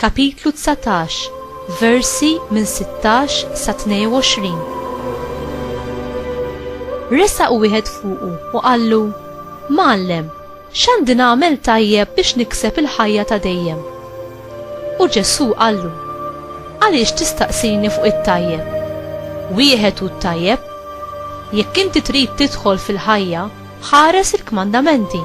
Kapitlu dsatax, versi minn sittax sa tnejn u għoxrin. Resaq wieħed fuqu u qallu, Mgħallem, x'għandi nagħmel tajjeb biex nikseb il-ħajja ta' dejjem? U Ġesù qallu, Għaliex tistaqsini fuq it-tajjeb? Wieħed hu t-tajjeb. Jekk inti trid tidħol fil-ħajja, Ħares il-kmandamenti.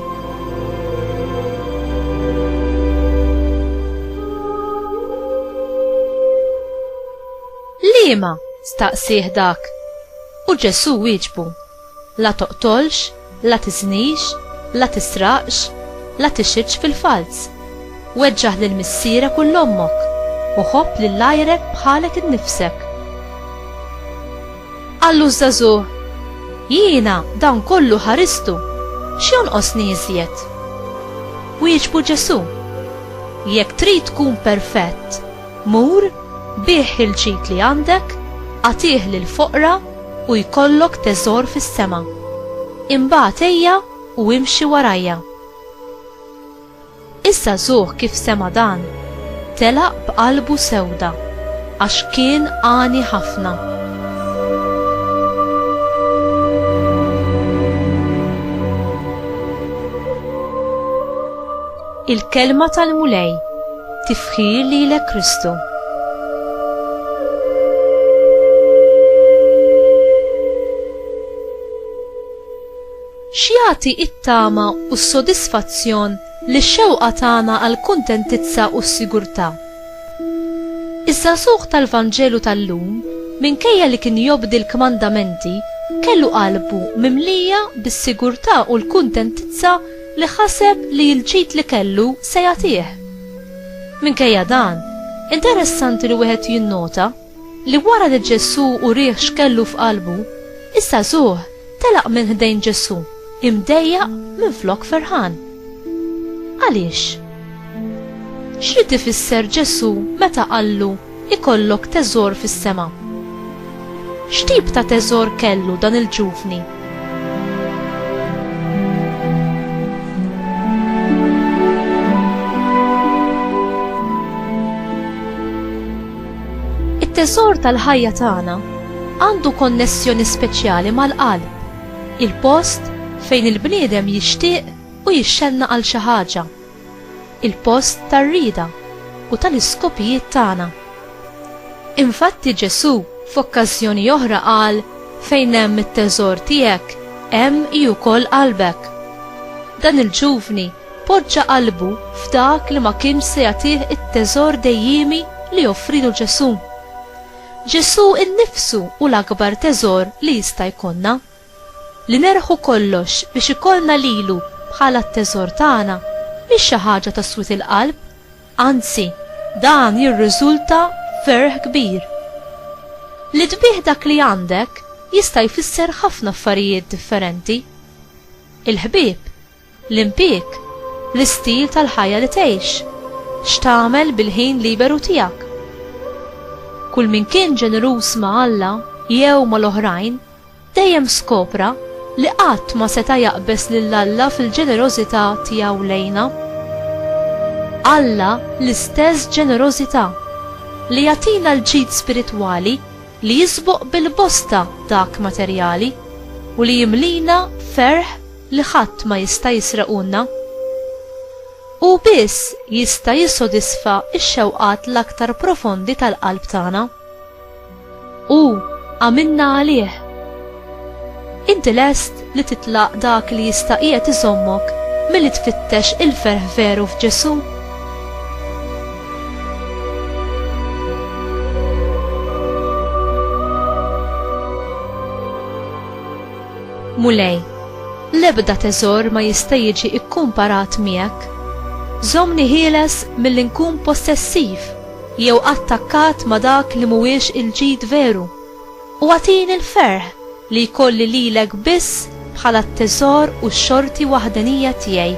Liema? staqsih dak. U Ġesù wieġbu, La toqtolx, la tiżnix, la tisraqx, la tixhidx fil-falz. Weġġaħ lil missierek u l ommok, u ħobb lil għajrek bħalek innifsek. Qallu ż-żagħżugħ, Jiena dan kollu ħaristu, x'jonqosni iżjed? Wieġbu Ġesù, Jekk trid tkun perfett, mur, bigħ il-ġid li għandek, agħtih lill-foqra u jkollok teżor fis-sema. Imbagħad ejja u imxi warajja. Issa żugħ kif sema' dan, telaq b'qalbu sewda, għax kien għani ħafna. Il-Kelma tal-Mulej Tifħir lilek Kristu. X'jagħti t-tama u s-sodisfazzjon lix-xewqa tagħna għall-kuntentizza u s-sigurtà? Iż-żagħżugħ tal-Vanġelu tal-lum, minkejja li kien jobdi l-kmandamenti, kellu qalbu mimlija bis-sigurtà u l-kuntentizza li ħaseb li l-ġid li kellu se jagħtih. Minkejja dan, interessanti li wieħed jinnota, li wara li Ġesù urieh x'kellu f'qalbu, iż-żagħżugħ telaq minn ħdejn Ġesù imdejjaq minflok ferħan. Għaliex? X'ried ifisser Ġesù meta qallu ikollok teżor fis-sema? X'tip ta' teżor kellu dan il-ġuvni? It-teżor tal-ħajja tagħna għandu konnessjoni speċjali mal-qalb, il-post fejn il-bniedem jixtieq u jixxenna għal xi ħaġa, il-post tar-rieda u tal-iskopijiet tagħna. Infatti Ġesù f'okkażjoni oħra qal, Fejn hemm it-teżor tiegħek, hemm hi wkoll qalbek. Dan il-ġuvni Poġġa qalbu f'dak li ma kienx se jagħtih it-teżor dejjiemi li offrilu Ġesù. Ġesù nnifsu hu l-akbar teżor li jista' jkollna. Li nerbħu kollox biex ikollna lilu bħala t-teżor tagħna mhix xi ħaġa ta' swied il-qalb, anzi, dan jirriżulta f'ferħ kbir. Li tbiegħ dak li għandek jista' jfisser ħafna affarijiet differenti. Il-ħbieb L-impjieg, l-istil tal-ħajja li tgħix, x'tagħmel bil-ħin liberu tiegħek. Kull min kien ġeneruż ma' Alla jew mal-oħrajn dejjem skopra li qatt ma seta' jaqbeż lil Alla fil-ġenerożità tiegħu lejna. Alla l-istess ġenerożità li jagħtina l-ġid spiritwali li jisboq bil-bosta dak materjali u li jimlina ferħ li ħadd ma jista' jisrequlna. Hu biss jista' jissodisfa x-xewqat l-aktar profondi tal-qalb tagħna. Hu għamilna għalih. Inti lest li titlaq dak li jista' qiegħed iżommok milli tfittex il-ferħ veru f'Ġesù? Mulej, l-ebda teżor ma jista' jiġi kkumparat miegħek. Żommni ħieles milli nkun possessiv jew attakkat ma' dak li mhuwiex il-ġid veru, u agħtini l-ferħ li jkolli lilek biss bħala t-teżor u x-xorti waħdenija tiegħi.